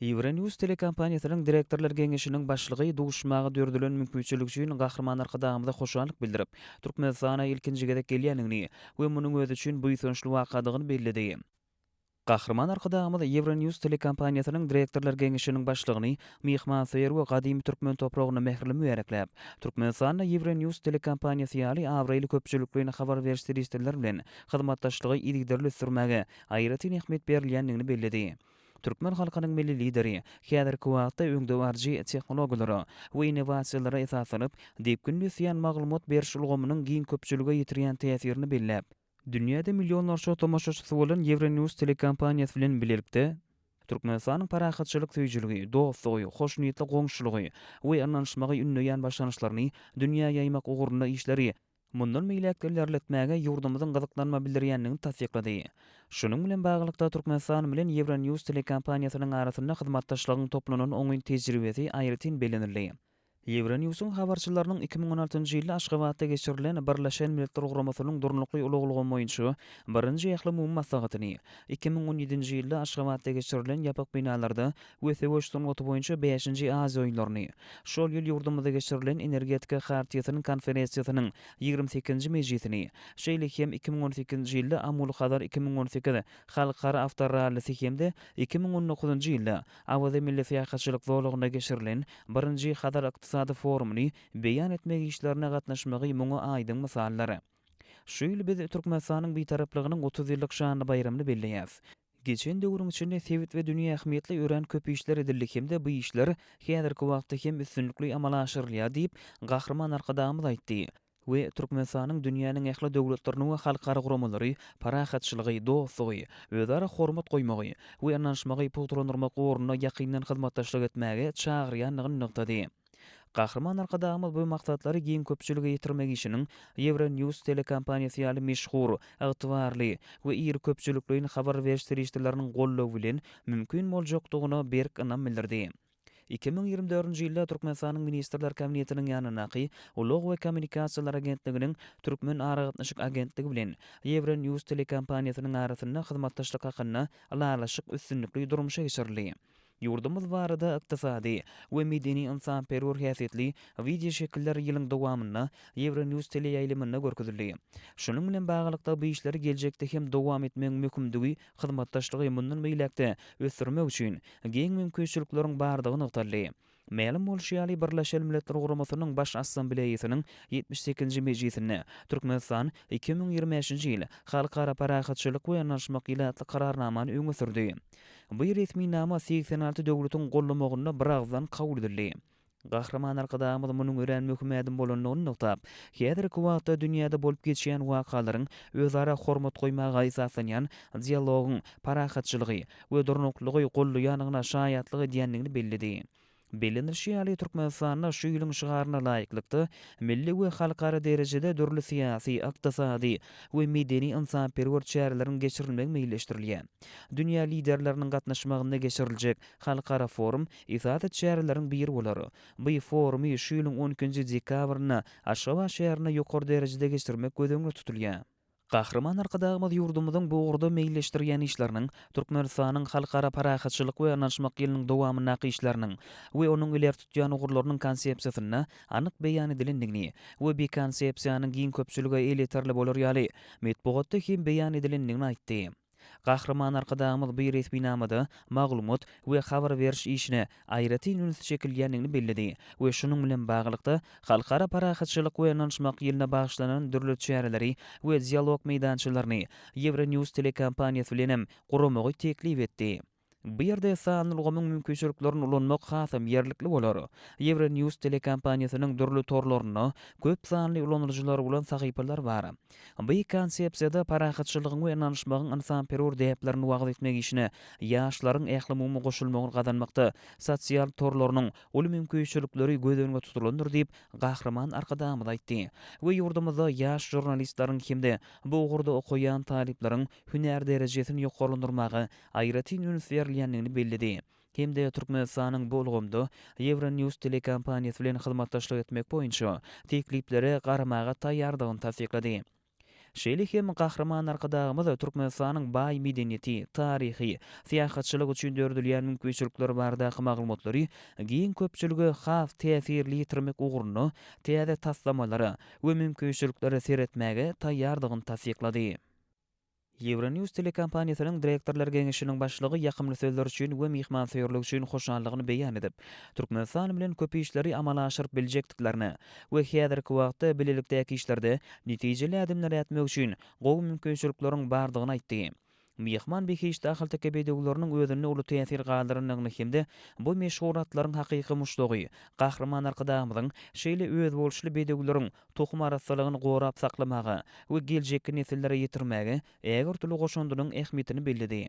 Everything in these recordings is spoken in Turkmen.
Euronewws telekompaniýasynyň direktorlar geňeşiniň başlygy duşmaga döredilen mümkinçilik üçin Gahryman Arkadagymyza hoşallyk bildirip, Türkmenistana ilkinji gezek gelýändigini we munuň özi üçin buýsançly wakadygyny belledi. Gahryman Arkadagymyz Euronewws telekompaniýasynyň direktorlar geňeşiniň başlygyny myhmansöýer we gadymy türkmen topragyna mähirli mübärekläp, Türkmenistanda Euronewws telekompaniýasy ýaly abraýly köpçülikleýin habar beriş serişdeler bilen hyzmatdaşlygy yzygiderli ösdürmäge aýratyn ähmiýet berilýändigini belledi. Türkmen halkynyň Milli Lideri häzirki wagtda öňdebaryjy tehnologiýalara we innowasiýalara esaslanyp, depginli ösýän maglumat beriş ulgamynyň giň köpçülige ýetirýän täsirini belläp, dünýäde millionlarça tomaşaçysy bolan Ýewronews telekompaniýasy bilen bilelikde Türkmenistanyň parahatçylyk söýüjiligi, dostlugy, hoşniýetli goňşulygy we ynanyşmagy ündeýän başlangyçlaryny dünýä ýaýmak ugrunda işleri mundan beýläk-de ilerletmäge ýurdumyzyň gyzyklanma bildirýändigini tassyklady. Şunuň bilen baglylykda, Türkmenistan bilen Euronews telekompaniýasynyň arasynda hyzmatdaşlygyň toplanan oňyn tejribesi aýratyn bellenildi. Euronews-yň habarçylarynyň iki müň on altynjy ýylda Aşgabatda geçirilen Birleşen Milletler Guramasynyň Durnukly ulag ulgamy boýunça birinji ählumumy maslahatyny, iki müň on ýedinji ýylda Aşgabatda geçirilen ýapyk binalarda we söweş sungaty boýunça bäşinji Aziýa oýunlaryny, şol ýyl ýurdumyzda geçirilen Energetika Hartiýasynyň Konferensiýasynyň ýigrimi sekizinji mejlisini, şeýle hem iki müň on sekizinji ýylda Amul-Hazar iki müň on sekiz halkara awtorallisi hem-de iki müň on dokuzynjy ýylda Awaza milli syýahatçylyk zolagynda geçirilen birinji Hazar ykdysady forumyny beýan etmek işlerine gatnaşmagy muňa aýdyň mysaldyr. Şu ýyl biz Türkmenistanyň Bitaraplygynyň otuz ýyllyk şanly baýramyny belleýäs. Geçen döwrüň içinde sebit we dünýä ähmiýetli örän köp işler edildi hem-de bu işler häzirki wagtda hem üstünlikli amala aşyrylýar diýip, Gahryman Arkadagymyz aýtdy we Türkmenistanyň dünýäniň ähli döwletlerini we halkara guramalary parahatçylygy, dostlugy, özara hormat goýmagy we ynanyşmagy pugtalandyrmak ugrunda ýakyndan hyzmatdaşlyk etmäge çagyrýandygyny nygtady. Gahryman Arkadagymyz bu maksatlary giň köpçülige ýetirmek işiniň Euronews telekompaniýasy ýaly meşhur, ygtybarly we iri köpçülikleýin habar beriş serişdeleriniň goldawy bilen mümkin boljakdygyna berk ynam bildirdi. Iki müň ýigrimi dördünji ýylda Türkmenistanyň Ministrler Kabinetiniň ýanyndaky Ulag we kommunikasiýalar agentliginiň Türkmen aragatnaşyk agentligi bilen Euronews telekompaniýasynyň arasynda hyzmatdaşlyk hakynda ylalaşyk üstünlikli durmuşa geçirildi. Ýurdumyz barada ykdysady we medeni-ynsanperwer häsiýetli wideoşekiller ýylyň dowamynda Ýewronews teleýaýlymynda görkezildi. Şunuň bilen baglylykda, bu işleri geljekde hem dowam etmegiň möhümdigi, hyzmatdaşlygy mundan beýläk-de ösdürmek üçin giň mümkinçilikleriň bardygy nygtaldy. Mälim bolşy ýaly, Birleşen Milletler Guramasynyň Baş Assambleýasynyň ýetmiş sekizinji mejlisinde Türkmenistan iki müň ýigrimi bäşinji ýyl Halkara parahatçylyk we ynanyşmak ýyly atly Kararnamany öňe sürdi. Bu resminama segsen alty döwletiň gollamagynda biragyzdan kabul edildi. Gahryman Arkadagymyz munuň örän möhüm ädim bolandygyny nygtap, häzirki wagtda dünýäde bolup geçýän wakalaryň özara hormat goýmaga esaslanýan dialogyň parahatçylygy we durnuklylygy gollaýandygyna şaýatlyk edýändigini belledi. Bellenilişi ýaly, Türkmenistanda şu ýylyň şygaryna laýyklykda, milli we halkara derejede dürli syýasy, ykdysady we medeni-ynsanperwer çäreleriň geçirilmegi meýilleşdirilýär. Dünýä liderleriniň gatnaşmagynda geçiriljek halkara forum esasy çäreleriň biri bolar. Bu forumy şu ýylyň on ikinji dekabrynda Aşgabat şäherinde ýokary derejede geçirmek göz öňünde tutulýar. Gahryman Arkadagymyz ýurdumyzyň bu ugurda meýilleşdirýän işleriniň, Türkmenistanyň Halkara parahatçylyk we ynanyşmak ýylynyň dowamyndaky işleriniň we onuň ileri tutýan ugurlarynyň konsepsiýasynda anyk beýan edilendigini we bi konsepsiýanyň giň köpçülige elýeterli bolar ýaly metbugatda hem beýan edilendigini aýtdy. Gahryman Arkadagymyz bu resminamada maglumat we habar beriş işine aýratyn üns çekilýändigini belledi we şunuň bilen baglylykda, Halkara parahatçylyk we ynanyşmak ýylyna bagyşlanan dürli çäreleri we dialog meýdançalaryny Ýewronews telekompaniýasy bilen hem guramagy teklip etdi. Bu ýerde sanly ulgamyň mümkinçiliklerini ulanmak hasam ýerlikli bolar. Euronews telekompaniýasynyň dürli torlarynda köp sanly ulanyjylary bolan sahypalar bar. Bu konsepsiýada parahatçylygyň we ynanyşmagyň ynsanperwer däplerini wagyz etmek işine ýaşlaryň ählumumy goşulmagyny gazanmakda sosial torlarynyň uly mümkinçilikleri göz öňünde tutulandyr diýip, Gahryman Arkadagymyz aýtdy we ýurdumyzda ýaş žurnalistleriň hem-de bu ugurda okaýan talyplaryň hünär derejesini ýokarlandyrmaga aýratyn üns berilýändigini belledi hem-de Türkmenistanyň bu ulgamda Euronews telekompaniýasy bilen hyzmatdaşlyk etmek boýunça tekliplere garamaga taýýardygyny tassyklady. Şeýle hem Gahryman Arkadagymyz Türkmenistanyň baý medeniýeti, taryhy, syýahatçylyk üçin döredilýän mümkinçilikler baradaky maglumatlary giň köpçülige has täsirli ýetirmek ugrunda täze taslamalara we mümkinçiliklere seretmäge taýýardygyny tassyklady. Ýewronews telekompaniýasynyň direktorlar geňeşiniň başlygy ýakymly sözler üçin we myhmansöýerlik üçin hoşallygyny beýan edip, Türkmenistan bilen köp işleri amala aşyryp biljekdiklerine we häzirki wagtda bilelikdäki işlerde netijeli ädimler ätmek üçin gowy mümkinçilikleriň bardygyny aýtdy. Myhman behişdi ahalteke bedewleriniň özünde uly täsir galdyrandygyny hem-de bu meşhur atlaryň hakyky muşdagy Gahryman Arkadagymyzyň şeýle özboluşly bedewleriň tohum arassalygyny gorap saklamaga we geljekki nesillere ýetirmäge ägirtüli goşandynyň ähmiýetini belledi.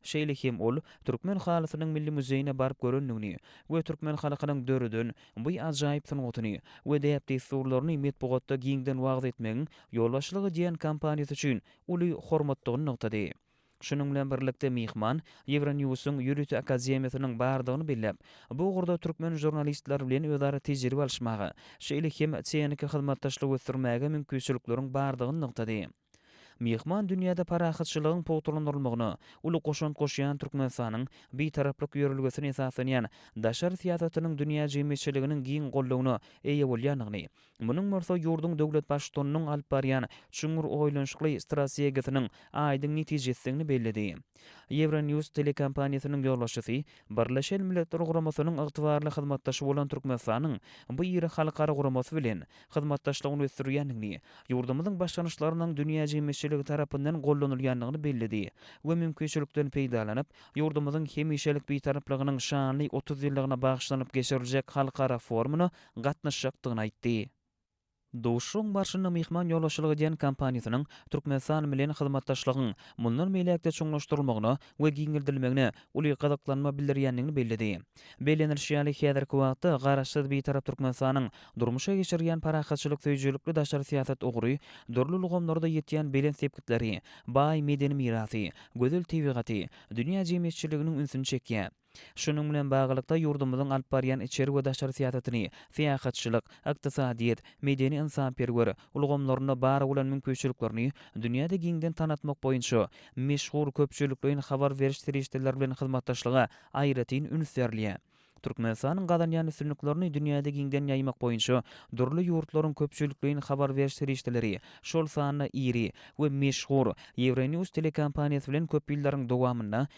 Şeýle hem ol Türkmen halysynyň milli muzeýine baryp görendigini we türkmen halkynyň döreden bu ajaýyp sungatyny we däp-dessurlaryny metbugatda giňden wagyz etmegiň ýolbaşçylyk edýän kompaniýasy üçin uly hormatdygyny nygtady. Şunuň bilen birlikde myhman Ýewronewsuň ýörite akademiýasynyň bardygyny belläp, bu ugurda türkmen žurnalistleri bilen özara tejribe alyşmaga, şeýle hem tehniki hyzmatdaşlygy ösdürmäge mümkinçilikleriň bardygyny nygtady. Myhman dünýäde parahatçylygyň pugtalandyrylmagyna uly goşant goşýan Türkmenistanyň Bitaraplyk ýörelgesine esaslanýan daşary syýasatynyň dünýä jemgyýetçiliginiň giň goldawyna eýe bolýandygyny Munuň bolsa ýurduň döwlet Baştutanynyň alyp barýan çuňňur oýlanyşykly strategiýasynyň aýdyň netijesidigini belledi. Ýewronews telekompaniýasynyň ýolbaşçysy Birleşen Milletler Guramasynyň ygtybarly hyzmatdaşy bolan Türkmenistanyň bu iri halkara guramasy bilen hyzmatdaşlygyny ösdürýändigini, ýurdumyzyň başlangyçlarynyň dünýä jemgyýetçiligi tarapyndan gollanylýandygyny belledi we mümkinçilikden peýdalanyp, ýurdumyzyň hemişelik Bitaraplygynyň şanly otuz ýyllygyna bagyşlanyp geçiriljek halkara forumyna gatnaşjakdygyny aýtdy. Duşuşygyň barşynda myhman ýolbaşçylyk edýän kompaniýasynyň Türkmenistan bilen hyzmatdaşlygyň mundan beýläk-de çuňlaşdyrylmagyna we giňeldilmegine uly gyzyklanma bildirýändigini belledi. Bellenilişi ýaly, häzirki wagtda Garaşsyz, Bitarap Türkmenistanyň durmuşa geçirýän parahatçylyk söýüjilikli daşary syýasat ugry dürli ulgamlarda ýetýän belent sepgitleri, baý medeni mirasy, gözel tebigaty dünýä jemgyýetçiliginiň ünsüni çekýär. Şunuň bilen baglylykda, ýurdumyzyň alyp barýan içeri we daşary syýasatyny syýahatçylyk, ykdysadyýet, medeni-ynsanperwer ulgamlarynda bar bolan mümkinçiliklerini dünýäde giňden tanatmak boýunça meşhur köpçülikleýin habar beriş serişdeleri bilen hyzmatdaşlyga aýratyn üns berilýär. Türkmenistanyň gazanýan üstünliklerini dünýäde giňden ýaýmak boýunça dürli ýurtlaryň köpçülikleýin habar beriş serişdeleri, şol sanda iri we meşhur Ýewronews telekompaniýasy bilen köp ýyllaryň dowamynda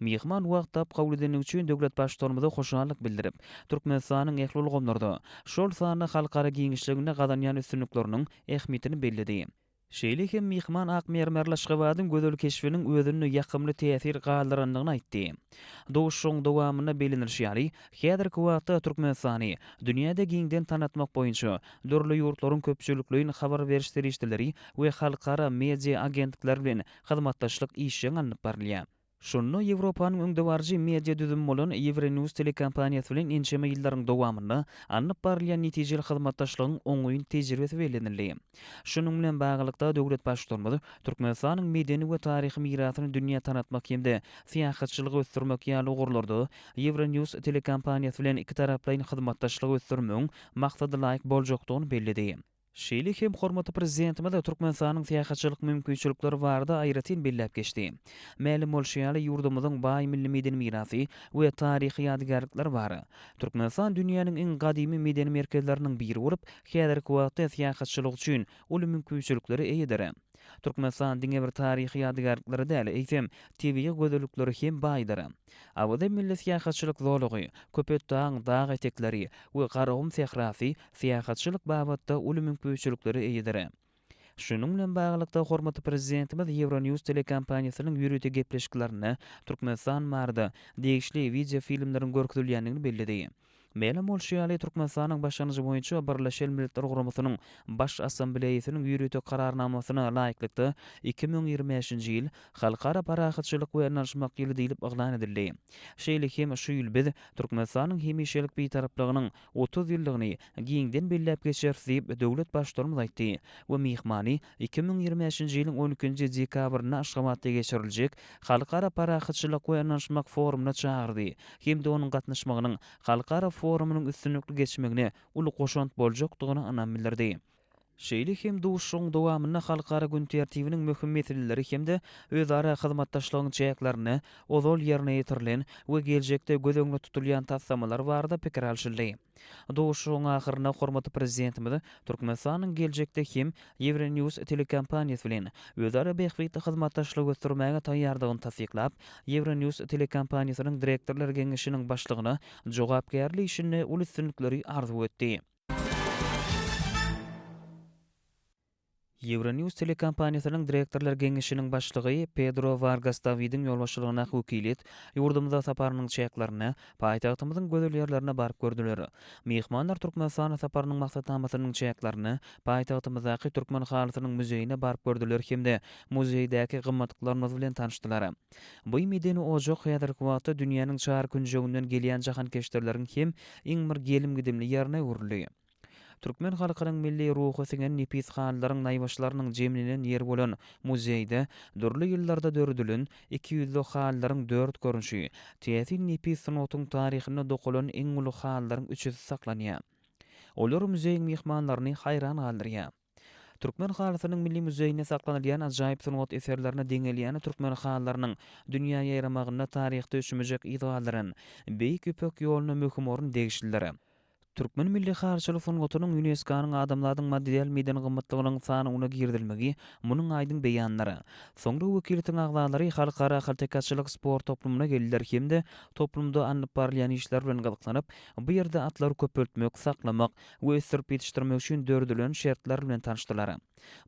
Myhman Wagtap kabul edendigi üçin döwlet Baştutanymyza hoşallyk bildirip, Türkmenistanyň ähli ulgamlarda, şol sanda halkara giňişliginde gazanýan üstünlikleriniň ähmiýetini belledi. Şeýle hem myhman ak mermerli Aşgabadyň gözel keşbiniň özünde ýakymly täsir galdyrandygyny aýtdy. Duşuşygyň dowamynda bellenilişi ýaly, häzirki wagtda Türkmenistany dünýäde giňden tanatmak boýunça dürli ýurtlaryň köpçülikleýin habar beriş serişdeleri we halkara media agentlikleri bilen hyzmatdaşlyk işjeň alnyp barylýar. Şunda Ýewropanyň öňdebaryjy media düzümi bolan Euronewws telekompaniýasy bilen ençeme ýyllaryň dowamynda alnyp barylýan netijeli hyzmatdaşlygyň oňyn tejribesi bellenildi. Şunuň bilen baglylykda, döwlet Baştutanymyz Türkmenistanyň medeni we taryhy mirasyny dünýä tanatmak hem-de syýahatçylygy ösdürmek ýaly ugurlarda Euronewws telekompaniýasy bilen ikitaraplaýyn hyzmatdaşlygy ösdürmegiň maksadalaýyk boljakdygyny belledi. Şeýle hem hormatly Prezidentimiz Türkmenistanyň syýahatçylyk mümkinçilikleri barada aýratyn belläp geçdi. Mälim bolşy ýaly, ýurdumyzyň baý milli medeni mirasy we taryhy ýadygärlikleri bar. Türkmenistan dünýäniň iň gadymy medeni merkezleriniň biri bolup, häzirki wagtda syýahatçylyk üçin uly mümkinçiliklere eýedir. Türkmenistan diňe bir taryhy ýadygärlikleri däl, eýsem, tebigy gözellikleri hem baýdyr. Awaza milli syýahatçylyk zolagy, Köpetdagyň dag etekleri we Garagum sährasy syýahatçylyk babatda uly mümküçiliklere eýedir. Şunuň bilen baglylykda, hormatly Prezidentimiz Ýewronews telekompaniýasynyň ýörite gepleşiklerinde Türkmenistan barada degişli wideofilmleriň görkezilýändigini belledi. Mälim bolşy ýaly, Türkmenistanyň başlangyjy boýunça Birleşen Milletler Guramasynyň Baş Assambleýasynyň ýörite Kararnamasyna laýyklykda iki müň ýigrimi bäşinji ýyl Halkara parahatçylyk we ynanyşmak ýyly diýlip yglan edildi. Şeýle hem şu ýyl biz Türkmenistanyň hemişelik Bitaraplygynyň otuz ýyllygyny giňden belläp geçeris diýip, döwlet Baştutanymyz aýtdy we myhmany Iki müň ýigrimi bäşinji ýylyň on ikinji dekabrynda Aşgabatda geçiriljek Halkara parahatçylyk we ynanyşmak forumyna çagyrdy hem-de onuň gatnaşmagynyň halkara forumynyň üstünlikli geçmegine uly goşant boljakdygyna ynam bildirdi. Şeýle hem duşuşygyň dowamynda halkara gün tertibiniň möhüm meseleleri hem-de özara hyzmatdaşlygyň çäklerinde ozal ýerine ýetirilen we geljekde göz öňünde tutulýan taslamalar barada pikir alşyldy. Duşuşygyň ahyrynda hormatly Prezidentimiz Türkmenistanyň geljekde hem Ýewrenews telekompaniýasy bilen özara bähbitli hyzmatdaşlygy ösdürmäge taýýardygyny tassyklap, Ýewrenews telekompaniýasynyň Direktorlar geňeşiniň başlygyna jogapkärli işinde uly üstünlikleri arzuw etdi. Euronews telekompaniýasynyň direktorlar geňeşiniň başlygy Pedro Wargas Dawidiň ýolbaşçylygyndaky wekiliýet ýurdumyza saparynyň çäklerinde paýtagtymyzyň gözel ýerlerine baryp gördüler. Myhmanlar Türkmenistana saparynyň maksatnamasynyň çäklerinde paýtagtymyzdaky Türkmen halysynyň muzeýine baryp gördüler hem-de muzeýdäki gymmatlyklarymyz bilen tanyşdylar. Bu medeni ojak häzirki wagtda dünýäniň çar künjeginden gelýän jahankeşdirleriň hem iň bir gelim-gidimli ýerine öwrüldi. Türkmen halkynyň milli ruhy siňen nepis halylaryň naýbaşylarynyň jemlenen ýeri bolan muzeýde dürli ýyllarda döredilen iki ýüzli halylaryň dört görnüşi, täsin nepis sungatyň taryhynda dokalan iň uly halylaryň üçüsi saklanýar. Olar muzeýiň myhmanlaryny haýran galdyrýar. Türkmen halysynyň milli muzeýinde saklanylýan ajaýyp sungat eserlerine deň gelýän türkmen halylarynyň dünýä ýaýramagynda taryhda öçmejek yz galdyran Beýik Ýüpek ýoluna möhüm orun degişlidir. Türkmen milli halyçylyk sungatynyň ÝUNESKO-nyň Adamzadyň material-meden gymmatlygynyň sanawyna girizilmegi munuň aýdyň beýanydyr. Soňra wekiliýetiň agzalary halkara haltekaçylyk sport toplumyna geldiler hem-de toplumda alnyp barylýan işler bilen gyzyklanyp, bu ýerde atlary köpeltmek, saklamak, we ösdürip ýetişdirmek üçin döredilen şertler bilen tanyşdylar.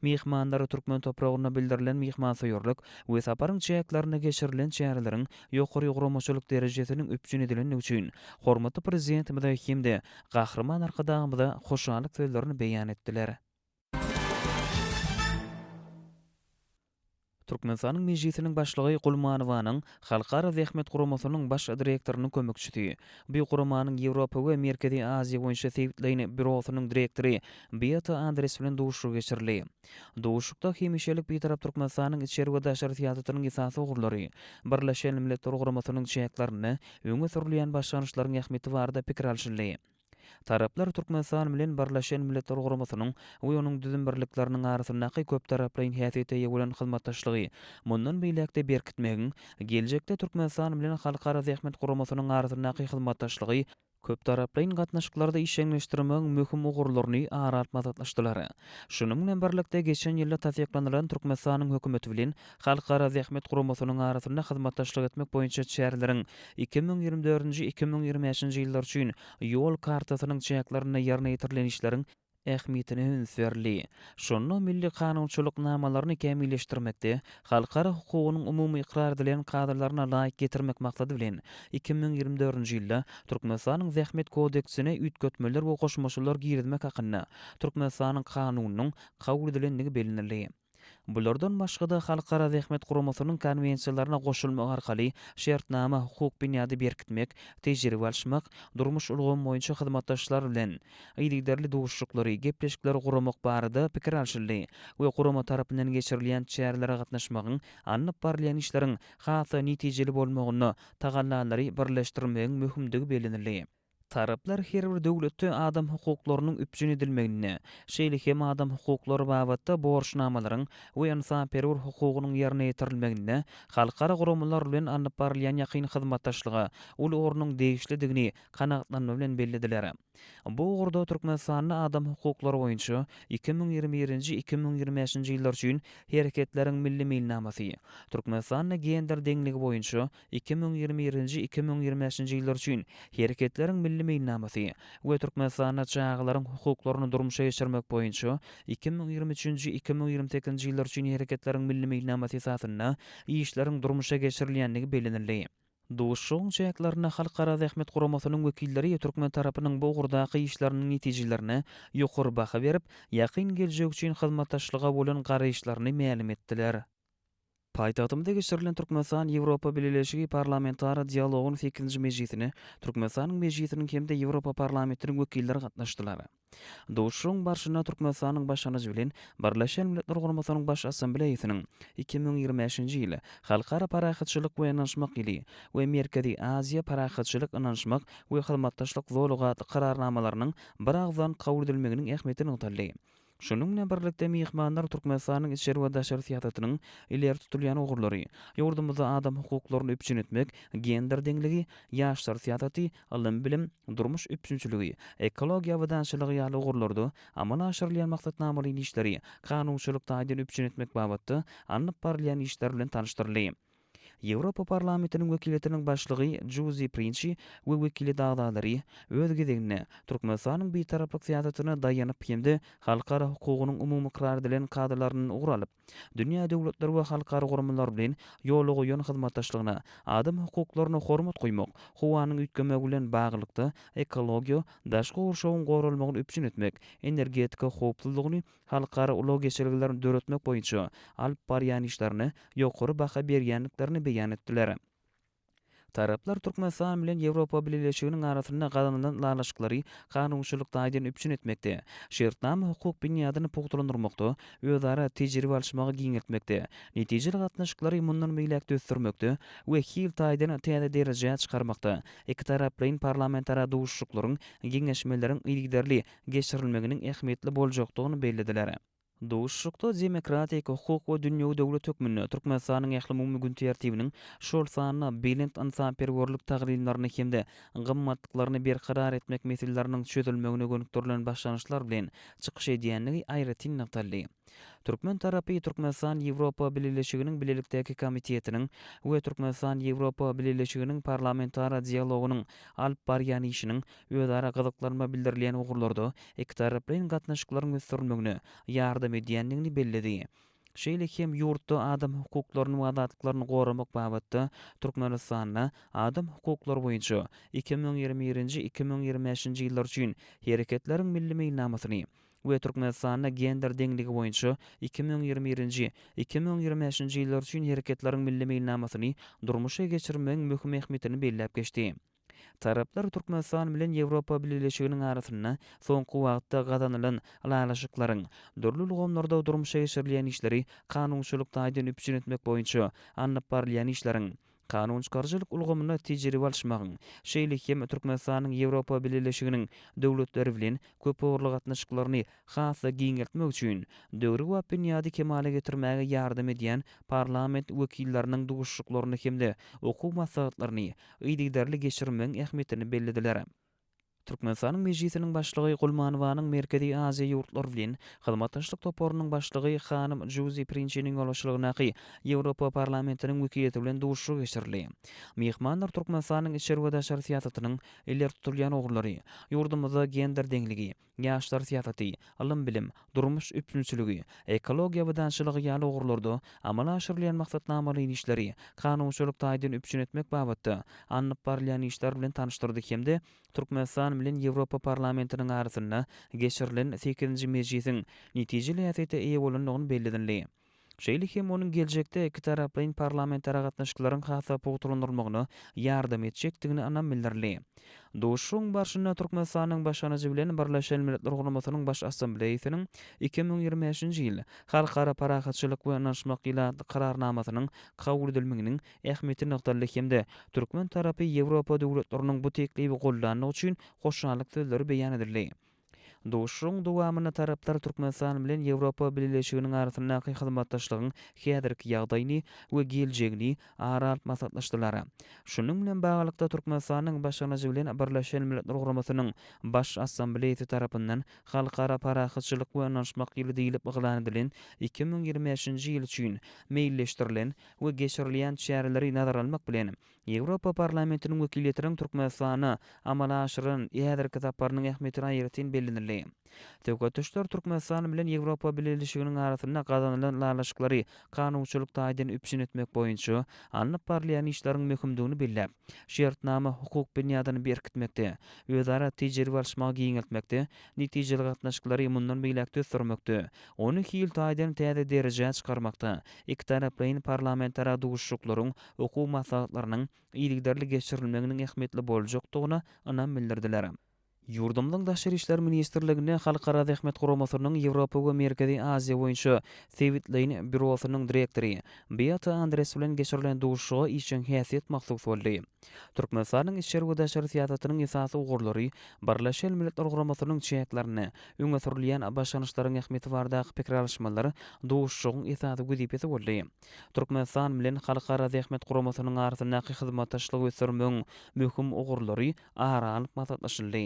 Myhmanlar türkmen topragynda bildirilen myhmansöýerlik we saparyň çäklerinde geçirilen çäreleriň ýokary guramaçylyk derejesiniň üpjün edilendigi üçin hormatly Prezidentimize hem-de Gahryman Arkadagymyza hoşallyk sözlerini beýan etdiler. Türkmenistanyň Mejlisiniň Başlygy Gulmanowanyň Halkara zähmet guramasynyň Baş direktorynyň kömekçisi, bu guramanyň Ýewropa we Merkezi Aziýa boýunça Sewitleýn býurosynyň direktory Beata Andres bilen duşuşygy geçirildi. Duşuşykda hemişelik Bitarap Türkmenistanyň içeri we daşary syýasatynyň esasy ugurlary, Birleşen Milletler Guramasynyň çäklerinde öňe sürülýän başlangyçlaryň ähmiýeti barada pikir alşyldy. Taraplar Türkmenistan bilen Birleşen Milletler Guramasynyň we onuň düzüm birlikleriniň arasyndaky köptaraplaýyn häsiýete eýe bolan hyzmatdaşlygy mundan beýläk-de berkitmegiň, geljekde Türkmenistan bilen Halkara Zähmet Guramasynyň arasyndaky hyzmatdaşlygy köptaraplaýyn gatnaşyklarda işjeňleşdirmegiň möhüm ugurlaryny ara alyp maslahatlaşdylar. Şunuň bilen birlikde, geçen ýylda tassyklanylan Türkmenistanyň Hökümeti bilen Halkara Zähmet Guramasynyň arasynda hyzmatdaşlyk etmek boýunça çäreleriň iki müň ýigrimi dördünji-iki müň ýigrimi bäşinji ýyllar üçin Ýol kartasynyň çäklerinde ýerine ýetirilen işleriň ähmiýetine üns berildi. Şunda milli kanunçylyk namalaryny kämilleşdirmekde, halkara hukugynyň umumy ykrar edilen kadalaryna laýyk getirmek maksady bilen, iki müň ýigrimi dördünji ýylda Türkmenistanyň Zähmet kodeksine üýtgetmeler we goşmaçalar girizmek hakynda Türkmenistanyň Kanunynyň kabul edilendigi bellenildi. Bulardan başga-da, Halkara Zähmet Guramasynyň konwensiýalaryna goşulmak arkaly şertnama hukuk binýady berkitmek, tejribe alyşmak, durmuş ulgamy boýunça hyzmatdaşlar bilen yzygiderli duşuşyklary, gepleşikleri guramak barada pikir alşyldy we gurama tarapyndan geçirilýän çärelere gatnaşmagyň alnyp barylýan işleriň has-da netijeli bolmagynda tagallalary birleşdirmegiň möhümdigi bellenildi. Taraplar her bir döwletde adam hukuklarynyň üpjün edilmeginde, şeýle hem adam hukuklary babatda borçnamalaryň we ynsanperwer hukugynyň ýerine ýetirilmeginde halkara guramalar bilen alnyp barylýan ýakyn hyzmatdaşlyga uly ornuň degişlidigini kanagatlanma bilen bellediler. Bu ugurda Türkmenistanda adam hukuklary boýunça iki müň ýigrimi birinji, iki müň ýigrimi bäşinji ýyllar üçin Hereketleriň milli meýilnamasy, Türkmenistanda gender deňligi boýunça iki müň ýigrimi birinji, iki müň ýigrimi bäşinji ýyllar üçin Hereketleriň milli meýilnamasy we Türkmenistanda çagalaryň hukuklaryny durmuşa geçirmek boýunça iki müň ýigrimi üçünji, iki müň ýigrimi sekizinji ýyllar üçin Hereketleriň milli meýilnamasy esasynda işleriň durmuşa geçirilýändigi bellenildi. Duşuşygyň çäklerinde Halkara zähmet guramasynyň wekilleri türkmen tarapynyň bu ugurdaky işleriniň netijelerine ýokary baha berip, ýakyn geljek üçin hyzmatdaşlyga bolan garaýyşlaryny mälim etdiler. Paýtagtymyzda geçirilen Türkmenistan-Ýewropa Bileleşigi parlamentara dialogyň sekizinji mejlisine Türkmenistanyň Mejlisiniň hem-de Ýewropa Parlamentiniň wekilleri gatnaşdylar. Duşuşygyň barşynda Türkmenistanyň başlangyjy bilen Birleşen Milletler Guramasynyň Baş Assambleýasynyň iki müň ýigrimi bäşinji ýyl Halkara parahatçylyk we ynanyşmak ýyly we Merkezi Aziýa parahatçylyk, ynanyşmak we hyzmatdaşlyk zolagy atly Kararnamalarynyň biragyzdan kabul edilmeginiň ähmiýeti nygtaldy. Şunuň bilen birlikde, myhmanlar Türkmenistanyň içeri we daşary syýasatynyň ileri tutulýan ugurlary, ýurdumyzda adam hukuklaryny üpjün etmek, gender deňligi, ýaşlar syýasaty, ylym-bilim, durmuş üpjünçiligi, ekologiýa abadançylygy ýaly ugurlarda amala aşyrylýan maksatnamalaýyn işleri kanunçylyk taýdan üpjün etmek babatda alnyp barylýan işler bilen tanyşdyryldy. Ýewropa Parlamentiniň wekiliýetiniň başlygy Žuzi Prinçi we wekiliýet agzalary, öz gezeginde, Türkmenistanyň Bitaraplyk syýasatyna daýanyp hem-de halkara hukugynyň umumy ykrar edilen kadalaryndan ugur alyp, dünýä döwletleri we halkara guramalary bilen ýola goýan hyzmatdaşlygyna, adam hukuklaryna hormat goýmak, howanyň üýtgemegi bilen baglylykda, ekologiýa, daşky gurşawyň goralmagyny üpjün etmek, energetika howpsuzlygyny, halkara ulag geçelgelerini döretmek boýunça alyp barýan işlerine ýokary baha berýändiklerini beýan etdiler. Taraplar Türkmenistan bilen Ýewropa Bileleşiginiň arasynda gazanylan ylalaşyklary kanunçylyk taýdan üpjün etmekde, şertnama-hukuk binýadyny pugtalandyrmakda, özara tejribe alyşmagy giňeltmekde, netijeli gatnaşyklary mundan beýläk-de ösdürmekde we hil taýdan täze derejä çykarmakda ikitaraplaýyn parlamentara duşuşyklaryň, geňeşmeleriň yzygiderli geçirilmeginiň ähmiýetli boljakdygyny bellediler. Duşuşykda demokratik, hukuk we dünýewi döwlet hökmünde Türkmenistanyň ählumumy gün tertibiniň, şol sanda belent ynsanperwerlik taglymlaryny hem-de gymmatlyklaryny berkarar etmek meseleleriniň çözülmegine gönükdirilen başlangyçlar bilen çykyş edýändigi aýratyn nygtaldy. Türkmen tarapy Türkmenistan-Ýewropa Bileleşiginiň Bilelikdäki komitetiniň we Türkmenistan-Ýewropa Bileleşiginiň parlamentara dialogynyň alyp barýan işiniň özara gyzyklanma bildirilýän ugurlarda ikitaraplaýyn gatnaşyklaryň ösdürilmegine ýardam edýändigini belledi. Şeýle hem ýurtda adam hukuklaryny we azatlyklaryny goramak babatda Türkmenistanda Adam hukuklary boýunça iki müň ýigrimi birinji-iki müň ýigrimi bäşinji ýyllar üçin Hereketleriň milli meýilnamasyny we Türkmenistanda gender deňligi boýunça iki müň ýigrimi birinji, iki müň ýigrimi bäşinji ýyllar üçin hereketleriň milli meýilnamasyny durmuşa geçirmegiň möhüm ähmiýetini belläp geçdi. Taraplar Türkmenistan bilen Ýewropa Bileleşiginiň arasynda soňky wagtda gazanylan ylalaşyklaryň, dürli ulgamlarda durmuşa geçirilýän işleri kanunçylyk taýdan üpjün etmek boýunça alnyp barylýan işleriň, Kanun çykaryjylyk ulgamynda tejribe alyşmagyň, şeýle hem Türkmenistanyň Ýewropa Bileleşiginiň döwletleri bilen köpugurly gatnaşyklaryny has-da giňeltmek üçin döwrebap binýady kemala getirmäge ýardam edýän parlament wekilleriniň duşuşyklaryny hem-de okuw maslahatlaryny yzygiderli geçirmegiň ähmiýetini bellediler. Türkmenistanyň Mejlisiniň Başlygy Gulmanowanyň Merkezi Aziýa ýurtlary bilen hyzmatdaşlyk toparynyň başlygy hanym Žuzi Prinçiniň ýolbaşçylygyndaky Ýewropa Parlamentiniň wekiliýeti bilen duşuşyk geçirildi. Myhmanlar Türkmenistanyň içeri we daşary syýasatynyň ileri tutulýan ugurlary, ýurdumyzda gender deňligi, ýaşlar syýasaty, ylym-bilim, durmuş üpjünçiligi, ekologiýa abadançylygy ýaly ugurlarda amala aşyrylýan maksatnamaly işleri, kanunçylyk taýdan üpjün etmek babatda alnyp barylýan işler bilen tanyşdyrdy hem-de Türkmenistan bilen Ýewropa Parlamentiniň arasynda geçirilen sekizinji mejlisiň netijeli häsiýete eýe bolandygyny bellednli. şeýle hem onuň geljekde ikitaraplaýyn parlamentara gatnaşyklaryň has-da pugtalandyrylmagyna ýardam etjekdigine ynam bildirildi. Duşuşygyň barşynda Türkmenistanyň Başlangyjy bilen Birleşen Milletler Guramasynyň Baş Assambleýasynyň iki müň ýigrimi bäşinji ýyl Halkara parahatçylyk we ynanyşmak ilatlyk Kararnamasynyň kabul edilmeginiň ähmiýeti nygtaldy hem-de türkmen tarapy Ýewropa döwletleriniň bu teklibi goldandygy üçin hoşallyk sözleri beýan edildi. Duşuşygyň dowamynda taraplar Türkmenistan bilen Ýewropa Bileleşiginiň arasyndaky hyzmatdaşlygyň häzirki ýagdaýyny we geljegini ara alyp maslahatlaşdylar. Şunuň bilen baglylykda, Türkmenistanyň başlangyjy bilen Birleşen Milletler Guramasynyň Baş Assambleýasy tarapyndan Halkara parahatçylyk we ynanyşmak ýyly diýlip yglan edilen iki müň ýigrimi bäşinji ýyl üçin meýilleşdirilen we geçirilýän çäreleri nazara almak bilen, Ýewropa Parlamentiniň wekiliýetiniň Türkmenistana amala aşyran häzirki saparynyň ähmiýetini aýratyn bellemeli. Söhbet duşlar Türkmenistan bilen Ýewropa Bileleşiginiň arasynda gazanylan ylalaşyklary kanunçylyk taýdan üpjün etmek boýunça alnyp barylýan işleriň möhümdigini belläp, şertnama hukuk binýadyny berkitmekde, özara tejribe alyşmagy giňeltmekde, netijeli gatnaşyklary mundan beýläk-de ösdürmekde, ony hil taýdan täze derejä çykarmakda ikitaraplaýyn parlamentara duşuşyklaryň okuw maslahatlarynyň yzygiderli geçirilmeginiň ähmiýetli boljakdygyna ynam bildirdiler. Ýurdumyzyň Daşary işler ministrliginde Halkara Zähmet Guramasynyň Ýewropa we Merkezi Aziýa boýunça sebitleýin býurosynyň direktory Beata Andres bilen geçirilen duşuşyga işjeň häsiýet mahsus boldy. Türkmenistanyň içeri we daşary syýasatynyň esasy ugurlary, Birleşen Milletler Guramasynyň çäklerinde öňe sürülýän başlangyçlaryň ähmiýeti baradaky pikir alyşmalar duşuşygyň esasy wezipesi boldy. Türkmenistan bilen Halkara Zähmet Guramasynyň arasyndaky hyzmatdaşlygy ösdürmegiň möhüm ugurlary ara alnyp maslahatlaşyldy.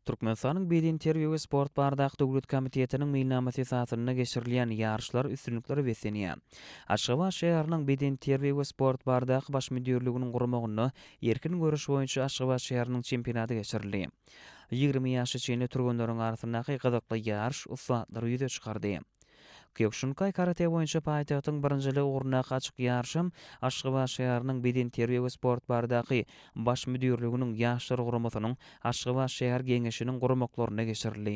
Türkmenistanyň Bedenterbiýe we sport baradaky döwlet komitetiniň meýilnamasy esasynda geçirilýän ýaryşlar üstünliklere beslenýär. Aşgabat şäheriniň Bedenterbiýe we sport baradaky baş müdirliginiň guramagynda erkin göreş boýunça Aşgabat şäheriniň çempionaty geçirildi. Ýigrimi ýaşa çenli türgenleriň arasyndaky gyzykly ýaryş ussatlary ýüze çykardy. Kýokşinkaý karate boýunça paýtagtyň birinjiligi ugrundaky açyk ýaryşam Aşgabat şäheriniň Bedenterbiýe we sport baradaky Baş müdirliginiň Ýaşlar guramasynyň Aşgabat şäher geňeşiniň guramaklarynda geçirildi.